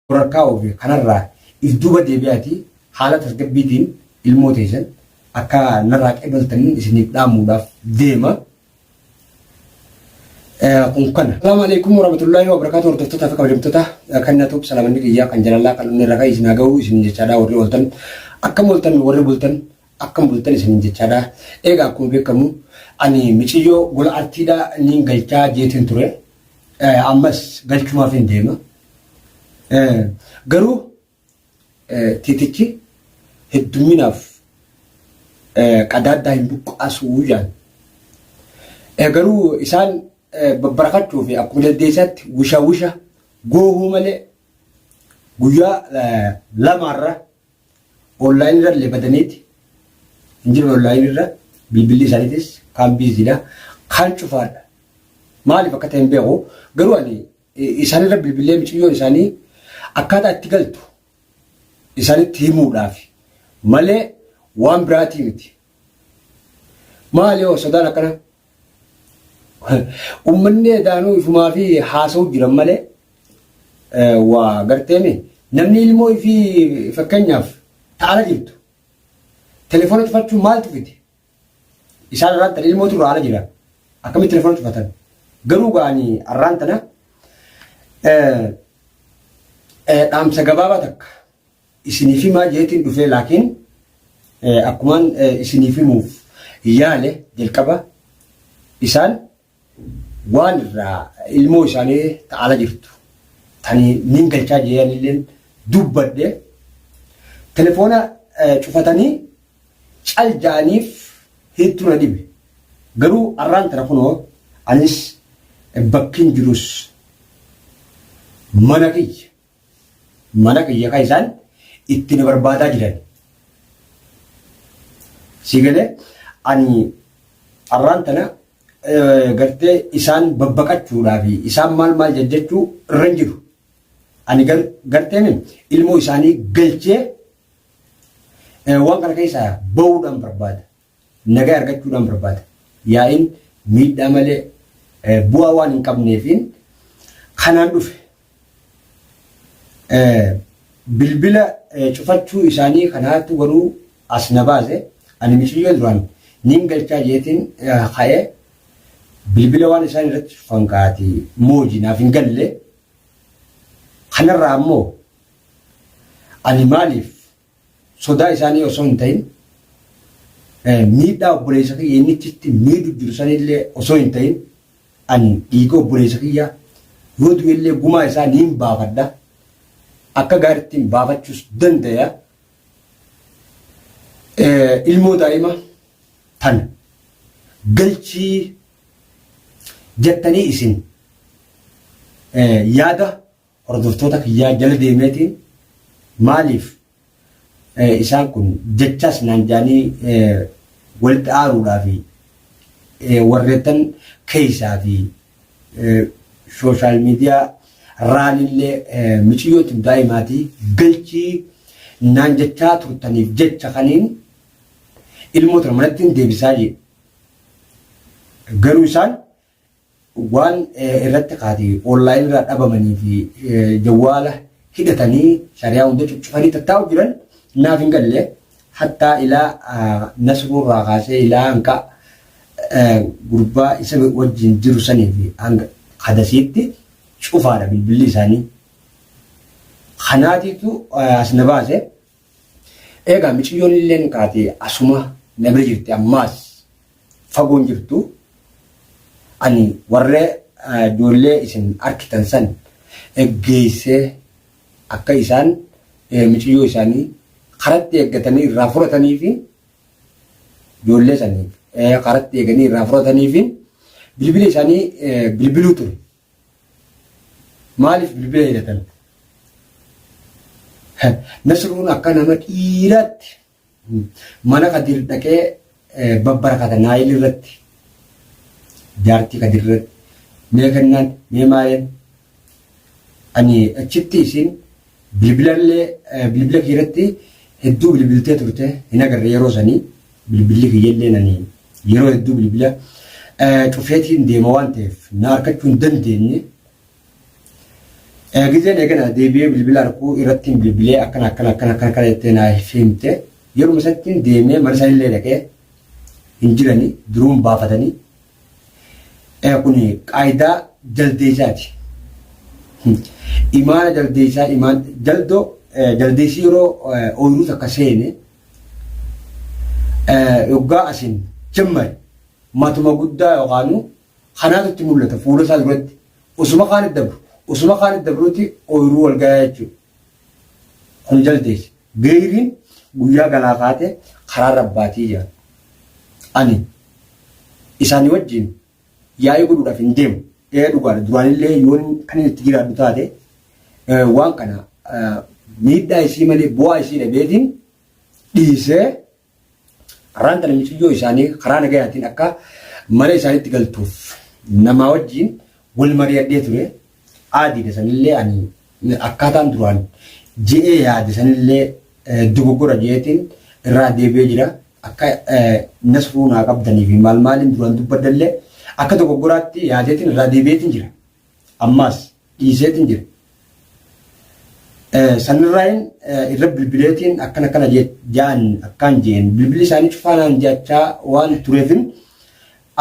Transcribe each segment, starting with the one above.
Shororkaa ofi kanarraa if duuba deebi'aatii haala tasgabbiitiin ilmoo teessan akka narraa qeebaltanin isiniif dhaamuudhaaf deema. kun kana. Assalamu alaikum warahmatullahi wabarakatuh hordoftoota fi kabajamtoota kan na tuub salaamanni kiyyaa kan jalalaa kan inni ragaa isin haga'uu isin jechaadhaa warri ooltan akkam ooltan warri bultan akkam bultan isin jechaadhaa eegaa akkuma beekamu ani miciyyoo gola artiidhaa niin galchaa jeetiin ture ammas galchumaaf hin deema Garuu tiitichi hedduminaaf qadaaddaa hin buqqaasuu jaan. Garuu isaan babbarafachuu fi akkuma dandeessaatti wisha wisha goohuu malee guyyaa lamaarra onlaayinii irra illee badaniiti hin jiran onlaayinii irra bilbilli isaaniitis kaan biiziidha kaan cufaadha. Maaliif akka ta'e hin beeku garuu ani isaanirra bilbilee miciyyoon isaanii akkaataa itti galtu isaanitti himuudhaaf malee waan biraatii miti. Maali hoo sodaan akkana? Uummanni edaanuu ifumaa fi haasa'uu jiran malee waa garteemi namni ilmoo fi fakkeenyaaf ta'ala jirtu telefoona cufachuun maaltu fide? Isaan arraan tana ilmootu irraa ala jira. Akkamitti telefoona cufatan? Garuu gaanii arraan tana dhaamsa gabaabaa takka isiniif himaa jeetiin dhufee laakiin akkumaan isiniif himuuf yaale jalqaba isaan waan irraa ilmoo isaanii ta ala jirtu tani nin galchaa jeeyanilleen dubbadhe telefoona cufatanii cal ja'aniif hedduu na dhibe garuu arraan tana kunoo anis bakkin jirus mana kiyya Mana kiyya kan isaan itti na barbaadaa jiran. Si galee ani arraan tana gartee isaan babbaqachuudhaa fi isaan maal maal jajjachuu irra hin jiru. Ani garteen ilmoo isaanii galchee waan kana keessaa bahuudhaan barbaada. Nagaa argachuudhaan barbaada. Yaa'iin miidhaa malee bu'aa waan hin qabneefiin kanaan dhufe. Bilbila cufachuu isaanii kanaatu garuu as na baase. Ani miciyyoo duraan niin galchaa jeetiin ka'ee bilbila waan isaan irratti cufan kaati mooji naaf hin galle. Kanarraa ammoo ani maaliif sodaa isaanii osoo hin ta'in miidhaa obboleessa kiyya inni achitti miidhu jiru sanillee osoo hin ta'in ani dhiiga obboleessa kiyyaa yoo du'ellee gumaa isaa niin baafadha akka gaariittiin baafachuus dandaya ilmoo daa'ima tan galchii jettanii isin yaada hordoftoota kiyyaa jala deemeeti maaliif isaan kun jechaas naan jaanii walitti aaruudhaa fi warreettan keessaa fi sooshaal miidiyaa raalillee miciyyootiin daa'imaatii galchii naan jechaa turtaniif jecha kaniin ilmoota manatti hin deebisaa jedhe. Garuu isaan Waan irratti kaati online irraa dhabamanii fi jawwaala hidhatanii shariyaa hunda cuccufanii tattaa'u jiran naaf hin galle hattaa ilaa nasruu irraa kaasee ilaa hanqa gurbaa isa wajjin jiru sanii fi hanga hadasiitti cufaadha bilbilli isaanii. Kanaatiitu as na baase. Eegaa miciyyoon illeen kaatee asuma na bira jirti ammaas fagoon jirtu ani warra ijoollee isin arkitan san eggeessee akka isaan miciyyoo isaanii karatti eeggatanii irraa furatanii fi ijoollee saniif karatti eeganii irraa furatanii fi bilbila isaanii bilbiluu ture. Maaliif bilbila hidhatan? Nasruun akka nama dhiiraatti mana Kadir dhaqee babbarakata naayil irratti jaartii Kadir irratti mee kennaan mee maaleen ani achitti isin Bilbilallee bilbila kiirratti hedduu bilbiltee turte hin agarre yeroo sanii bilbilli kiyyallee nani yeroo hedduu bilbila cufeetiin deema waan ta'eef na harkachuu hin dandeenye. Gizeen eegana deebi'ee bilbila harkuu irratti hin bilbilee akkana akkana akkana akkana akkana jettee naa himte yeruma isatti deemee mana isaa illee dhaqee hin jirani duruun baafatanii Kun qaayidaa jaldeessaati. Imaana jaldeessaa imaan jaldoo jaldeessi yeroo ooyiruu takka seene yoggaa asin jammare matuma guddaa yookaan kanaatu itti mul'ata fuula isaa duratti osuma kaan dabru osuma kaan dabruuti ooyiruu wal gayaa jechuudha. Kun jaldeessi. Geeyriin guyyaa ganaa kaatee karaa rabbaatii jedhan. Ani isaanii wajjin yaa'ii godhuudhaaf hin deemu. Ee dhugaadha duraanillee yoon kan inni itti jiraadhu taate waan kana miidhaa isii malee bu'aa isii dhabeetiin dhiisee Karaan kana miciyyoo isaanii karaa nagayaatiin akka mana isaaniitti galtuuf namaa wajjin wal mari'adhee ture. Aadiidha sanillee ani akkaataan duraan je'ee yaade sanillee dogoggora je'eetiin irraa deebi'ee jira. Akka nasruu naa qabdanii fi maal maaliin duraan dubbadallee akka dogoggoraatti yaadeetiin irraa deebi'eetiin jira. Ammaas dhiiseetiin jira. Sanirraayin irra bilbileetiin akkana akkana jaan akkaan jeen bilbilli isaanii cufaanaan jechaa waan tureefin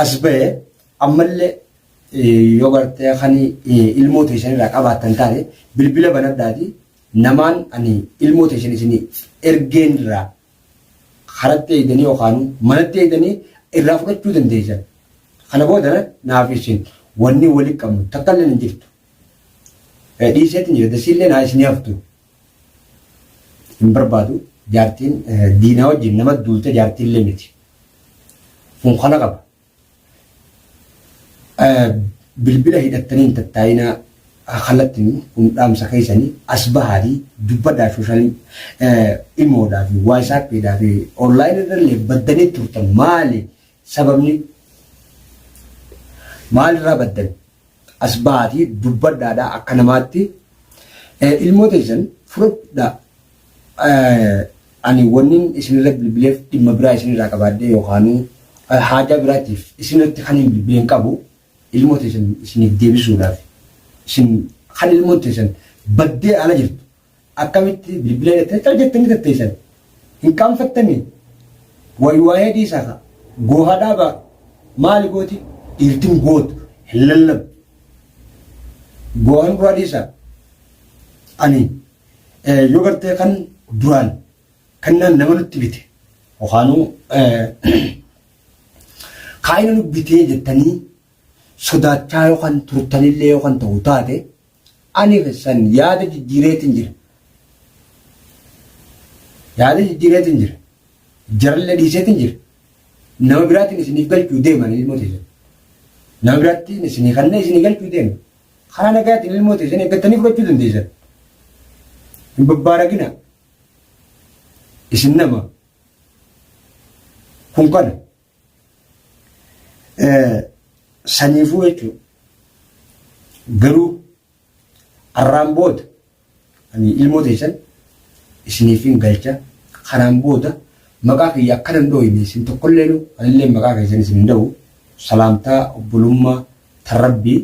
as ba'e ammallee yoo gartee kan ilmoo teessan irraa qabaattan taate bilbila banadhaati namaan ani ilmoo teessan isin ergeen irraa karatti eeydanii yookaan manatti eeydanii irraa fudhachuu dandeeysan. Kana booda naaf isin wanni wali qabnu takka illee hin jirtu. Dhiiseetiin jira dasiillee naa isin haftu. Hin barbaadu jaartiin diinaa wajjin nama duulte jaartiillee miti. Kun kana qaba. Bilbila hidhattanii hin tattaa'inaa kallattiin kun dhaamsa keessanii as bahaati dubbadhaa sooshaal imoodhaa fi waasaappiidhaa fi onlaayinii irrallee baddanii turtan maali sababni maalirraa baddan? As ba'aatii dubbadhaa dha akka namaatti. Ilmoo teessan fudhadha. Ani wannin isinirra bilbileef dhimma biraa isinirraa qabaadhee yookaanuu haajaa biraatiif isinirratti kan hin bilbile hin qabu. Ilmoo teessan isiniif deebisuudhaaf. Isin kan ilmoon teessan baddee ala jirtu. Akkamitti bilbila jettee cal jettanii tatteessan hin qaanfattanii wayi waa'ee dhiisaa ka goohaa dhaabaa maali gooti dhiirtin gootu hin lallabdu goohan duraa dhiisaa ani yoo gartee kan duraan kannaan nama nutti bite yookaanuu kaayina nu bitee jettanii sodaachaa yookaan turtanillee yookaan ta'u taate Ani san yaada jijjiireetin jira. Yaada jijjiireetin jira. Jarallee dhiiseetin jira. Nama biraatiin isiniif galchuu deema ani ilmoo teessan. Nama biraattiin isinii kannee isinii galchuu deema. Karaa nagaatiin ilmoo teessan eeggattanii fudhachuu dandeessan. Hin babbaaragina. Isin nama. Kun kana. Saniifuu jechuun garuu arraan booda ilmoo teessan isiniif hin galcha kanaan booda maqaa kiyya akka nan dhooyne isin tokkollee anillee maqaa keessan isin hin dha'u salaamtaa obbolummaa tan rabbii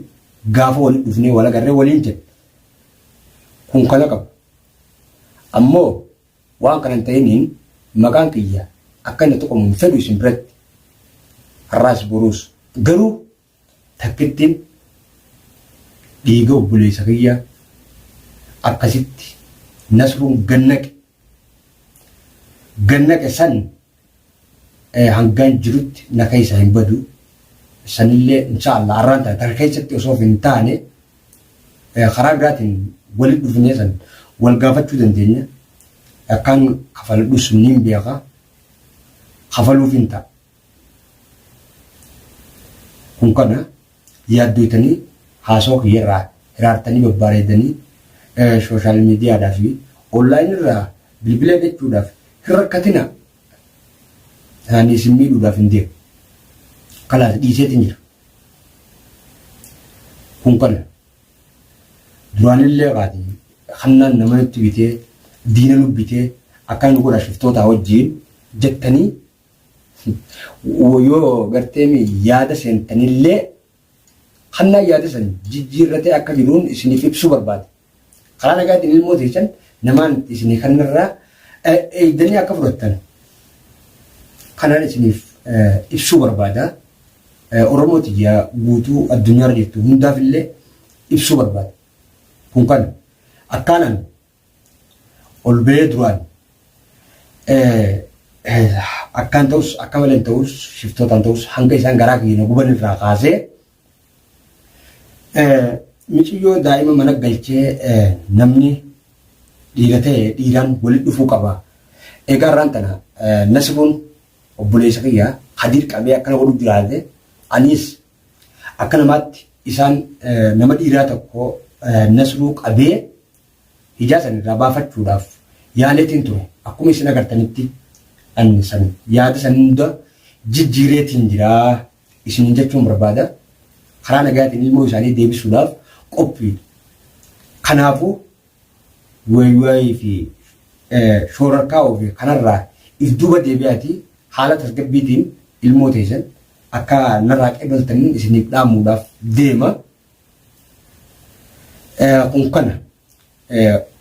gaafa waliin dhufnee wal agarree waliin jenna kun kana qaba ammoo Waan kana hin ta'iniin maqaan kiyya akka inni tuqamu hin fedhu isin biratti. Har'aas boruus. Garuu takkittiin dhiiga obboleessa kiyyaa akkasitti Nasruun gad naqe. Gad naqe san hangan jirutti na keessa hin badu sanillee inshaallah arraan tana takka keessatti osoo hin taane karaa biraatiin walitti dhufnee san wal gaafachuu dandeenya akkaan kafaladhu sunniin beeka kafaluuf hin ta'a kun kana Yaaddoytanii haasawa kiyya irraa hiraartanii babbaareeddanii sooshaal miidiyaadhaa fi online irraa bilbila eeggachuudhaaf hin rakkatinaa. Ani isin miidhuudhaaf hin deemu. Kalaas dhiiseetiin jira. Kun kana. Duraanillee qaati hannaan nama nutti bitee diina nu bitee akkaan nu godha shiftootaa wajjin jettanii Yoo garteemi yaada seentanillee hannaa yaada san jijjiirratee akka jiruun isiniif ibsuu barbaada. Karaa nagaatiin ilmoo teessan namaan itti isinii kannarraa eegdanii akka fudhattan kanaan isiniif ibsuu barbaada. Oromoo tiyya guutuu addunyaarra jirtu hundaafillee ibsuu barbaada. Kun kana akkaanaan ol ba'ee duraan akkaan ta'us akka malee ta'us shiftootaan ta'us hanga isaan garaa kiyya na guban irraa kaasee miciyyoo daa'ima mana galchee namni dhiira ta'e dhiiraan walitti dhufuu qaba. Egaa irraan tana nasibuun obboleessa kiyya hadiir qabee akkana godhu jiraate anis akka namaatti isaan nama dhiiraa tokko nasruu qabee ijaa san irraa baafachuudhaaf yaaleetiin ture. Akkuma isin agartanitti anni san yaada san hunda jijjiireetiin jira isiniin jechuun barbaada. Karaa nagaatiin ilmoo isaanii deebisuudhaaf qophiidha. Kanaafuu waywaayii fi shoorarkaa'uu fi kanarraa if duuba deebi'aatii haala tasgabbiitiin ilmoo teessan akka narraa qeebaltaniin isiniif dhaamuudhaaf deema. Kun kana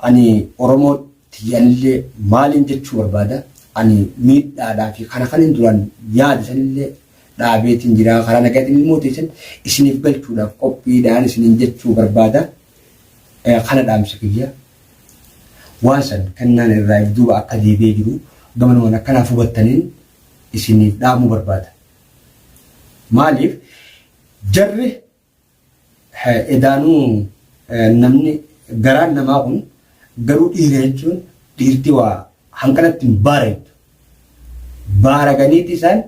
ani Oromoo tiyyanillee maaliin jechuu barbaada ani miidhaadhaa fi kana kan hin duraan yaada sanillee dhaabeetiin jira karaa nagaatiin ilmoo teessan isiniif galchuudhaaf qophiidhaan isiniin jechuu barbaada kana dhaamsa kiyya waan san kennaan irraa duuba akka deebi'ee jiru gamanumaan akkanaaf hubattaniin isiniif dhaamuu barbaada. Maaliif Jarri edaanuu namni garaan namaa kun garuu dhiira jechuun dhiirti waa hanqanatti hin baaraytu. Baaraganiiti isaan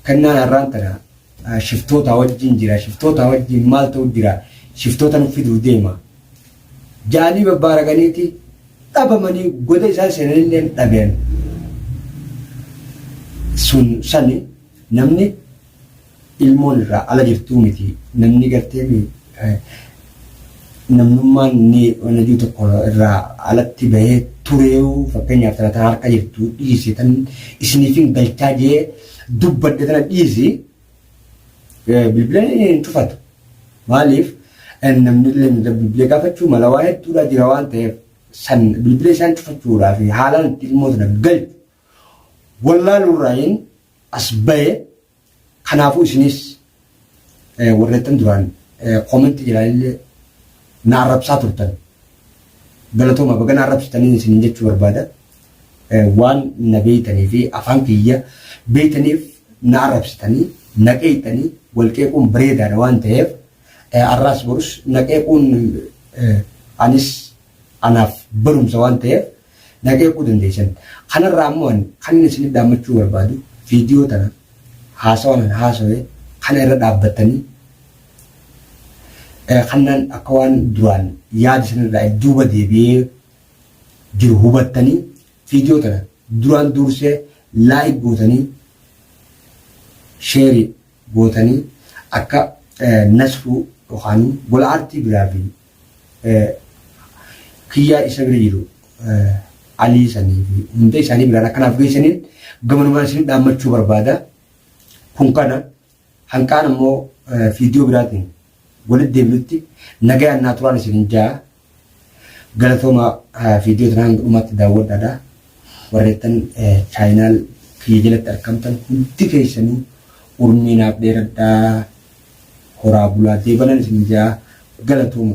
kennaan har'aan tana shiftoota wajjin jira shiftoota wajjin maal ta'u jira shiftoota nu fiduu deema. Jaalii babbaaraganiiti dhabamanii goda isaan seenanillee dhabeen sun sani namni ilmoon irraa ala jirtuu miti namni gartee mi namnummaan ni wanajuu tokko irraa alatti bahee tureewu fakkeenyaaf tana tana harka jirtu dhiisi tan isiniifin galchaa jee dubbadde tana dhiisi bilbila hin cufatu maaliif namni illee bilbila gaafachuu mala waa hedduudhaa jira waan ta'eef san bilbila isaan cufachuudhaa fi haalaan itti ilmoo tana galchu wallaaluurraayin as bahe kanaafuu isinis warreettan duraan koomentii jalaanillee na arrabsaa turtan galatooma baga na arrabsitaniin isinin jechuu barbaada waan na beeytanii fi afaan kiyya beeytaniif na arrabsitanii na qeeyxanii wal qeequun bareedaadha waan ta'eef arraas borus na qeequun anis anaaf barumsa waan ta'eef na qeequu dandeessan. Kanarraa ammoo ani kanin isinit dhaammachuu barbaadu viidiyoo tana haasawaan an haasawe kana irra dhaabbattanii eh, kannaan akka waan duraan yaada isinirraa duuba deebi'ee jiru hubattanii viidiyoo tana duraan duursee laayik gootanii sheerii gootanii akka eh, nasruu yookaan gola aartii biraa fi kiyyaa isa bira jiru alii sanii fi hunda isaanii biraan akka naaf geessaniin gamanumaan isin dhaammachuu barbaada. Kun kana hanqaan ammoo fiidiyoo biraatiin walitti deebinutti nagayaan naa turaan isin jaa galatooma fiidiyoo tanaan dhumatti daawwadhaadha. Warreettan chaayinaal kiyya jalatti argamtan hundi keessanii urmii naaf dheeradhaa horaa bulaa deebanan isin jaa galatooma.